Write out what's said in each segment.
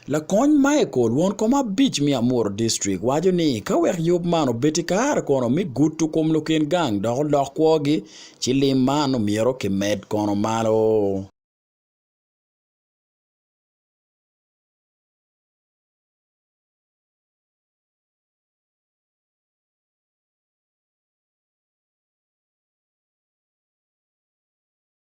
Lakony Michael won kom abic me Amuru District waco ni ka wek yub man obedi kare kono me gudo kom lukin gang dok olok kwogi ci lim man omyero ki med kono malo.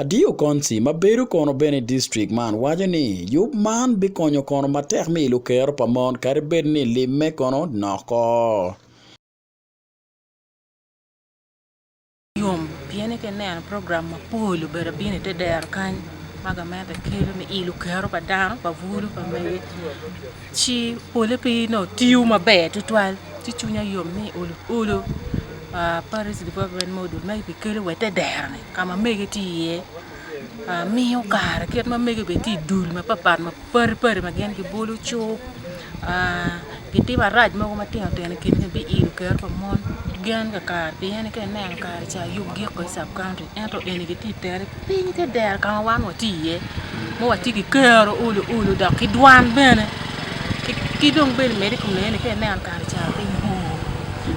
Adiyo Konci ma bedo kono bene i distrik man waco ni yub man bikonyo kono matek mi lukero pa mon kadi bed ni limme kono noko. yom pien ite neno program mapol obedo abino ite dero kany ma gamente kelo me ilo kero pa dano pa bulu pa mege Ci pole pe onongo tiyo maber tutwal, ci cwinya yom ni olo olo Paris Development Model ma kibikelo wa i te dero-ni ka ma mege tye iye. Miyo kare kit ma mege bene tye i dul mapatpat ma padi padi ma gin gibolo cuk gitimo arac mogo matino tino i kingi biilo kero pa mon. Gin kakare piyeni ka ineno kare ca yub gik kono i subcounty. ento eni gitye i tere piny te dero ka ma wan watye iye ma watye ki kero olo olo dok ki dwan bene ki dong bene mede i kom nene ni ka ineno kare ca piny bor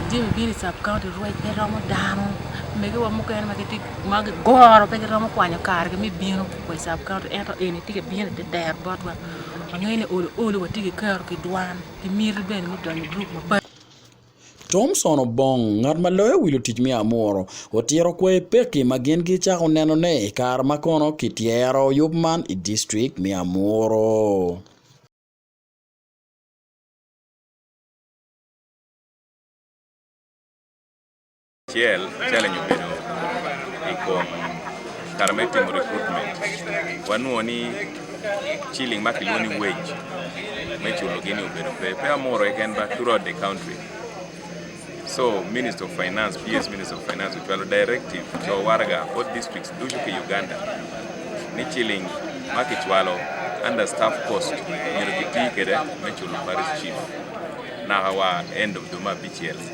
jami bino i cab county rwec pe romo dano megiwa mukene ma gitye ma gigoro pe giromo kwanyo kargi me bino wa i cab county ento eni tye ka bino ite dero botwa wangeyo ni olo olo watye ki kero ki dwan ki miti bene me donyo i gurup mapatpat Thomson Obong, ngat ma loyo wi lutic me Amuru, otito kwayi pekki ma gin gicako nenone i kare ma kono kityero yub man i district me Amuru. Acel challenge obedo i kom kare me timo recruitment wanongo ni ciling ma kilwongo ni wage me culo gi ni obedo pe pe amoro keken but throughout the country so minister of finance PS minister of finance ocwalo directive co waraga both districts ducu ki Uganda ni ciling ma kicwalo under staff cost myero kiti kwede me culo parish chief naka wa end of dwe me abicel.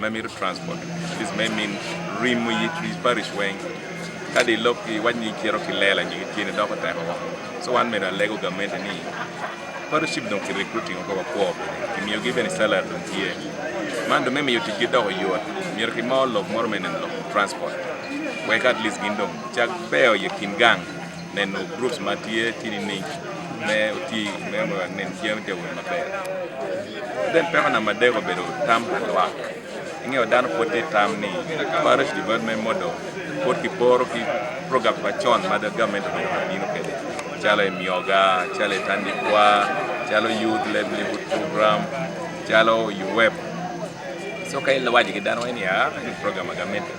ma mito transport atleast me min rimo i wi parish weng kadi i lok ki iwac ni icito ki lela nyo ki tyeni doko tek woko so wan me dong alego gamente ni parish chief dong ki recruiting woko wakwo bene kimiyo gi bene salary dong tye man dong me miyo tic gi doko yot myero ki mor lok moro me neno lok transport wek atleast gin dong cak beo i kin gang neno groups ma tye ki nining me oti me wek nen tye me jawo maber ki bene peko namba adek obedo tam pa lwak ingeyo dano pwod tye tam ni parish development model pwod ki poro ki program pa con ma government obedo ka bino kwede calo emyoga, calo etandikwa, calo youth livelihood program, calo UWEP, so ka iwaco ki dano wai ni aa eni program ma gamente.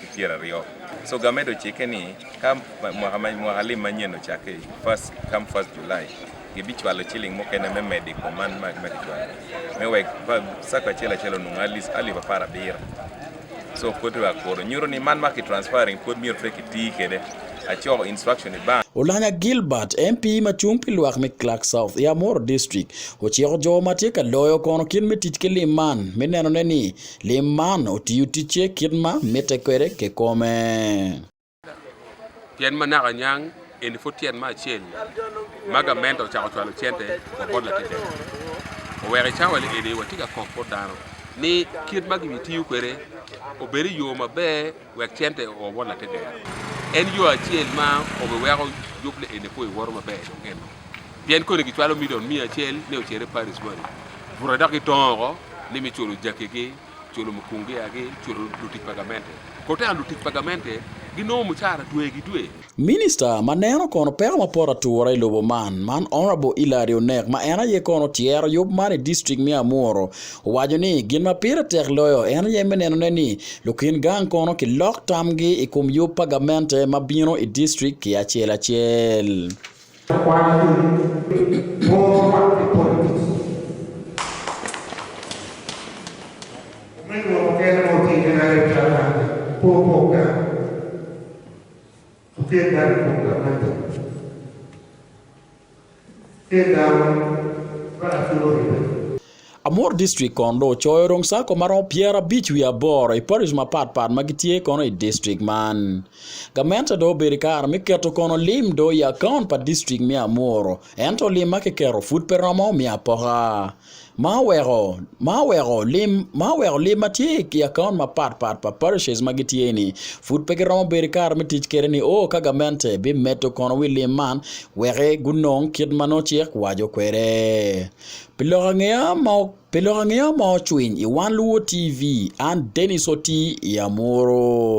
ki pyera aryo so gamet ocike ni ka mwaka lim manyen ocake first come first July gi bi cwalo ciling mukene me medo ikom man ma ki cwalo me wek sacco acel acel onongo at least alip apar abiro so pwod dong akuru nyuto ni man ma ki transferring pwod myero pe ki ti kede acoko instruction i bank. Olanya Gilbert, MP ma cung pi lwak me Clark South i Amuru District, ociko jo ma tye ka loyo kono kit me tic ki lim man me nenone ni Lim man otiyo ticce kit ma mitte kwede kikome. Tyen ma naka niang eni pud tyen ma acel ma gamente ocako cwalo cente wa bot latetema. Oweko i cawali eni watye ka kok bot dano ni kit ma gibitiyo kwede obed i yo maber. Wek cente o bot lategero. En yo acel ma obiweko yub lielli poi woto maber i dog eno. Pien koni gicwalo milion miya acel ni ocer i Paris moni, bute dok gitongo oko ni me culo jakigi, culo mukungiagi, culo lutic pa gamente. Kote-ni lutic pa gamente ginongo mucara twegi dwe. Minista ma neno kono peko mapot atura i lobo man, man Honourable Hillary Onek ma en aye kono tyero yub man i district me Amuru, owaco ni gin ma pire tek loyo en aye me nenone ni lukin gang kono kilok tamgi i kom yub pa gamente ma bino i district ki acel acel. Pien dano opong ki amanyo, Pien dano ma lacul oribe. Amuru District kono dong ocoyo odong Sacco ma romo pyerabic wiye aboro i Parish mapat pat ma gitye kono i District man. Gamente dong obedo i kare me keto kono lim dong i account pa District me Amuru ento lim ma kiketo pud pe romo me apoka. ma oweko lim ma tye i akaunt mapat pat pa parishes ma gitye ni pud pe giromo bedo ki kare me tic kwede ni o ka gamente bimedo kono wi lim man weki gunong kit ma nongo cik waco kwede. Pi lok angeya ma pi lok angeya ma ocwiny i wan luwo TV an Denis Otii i Amuru.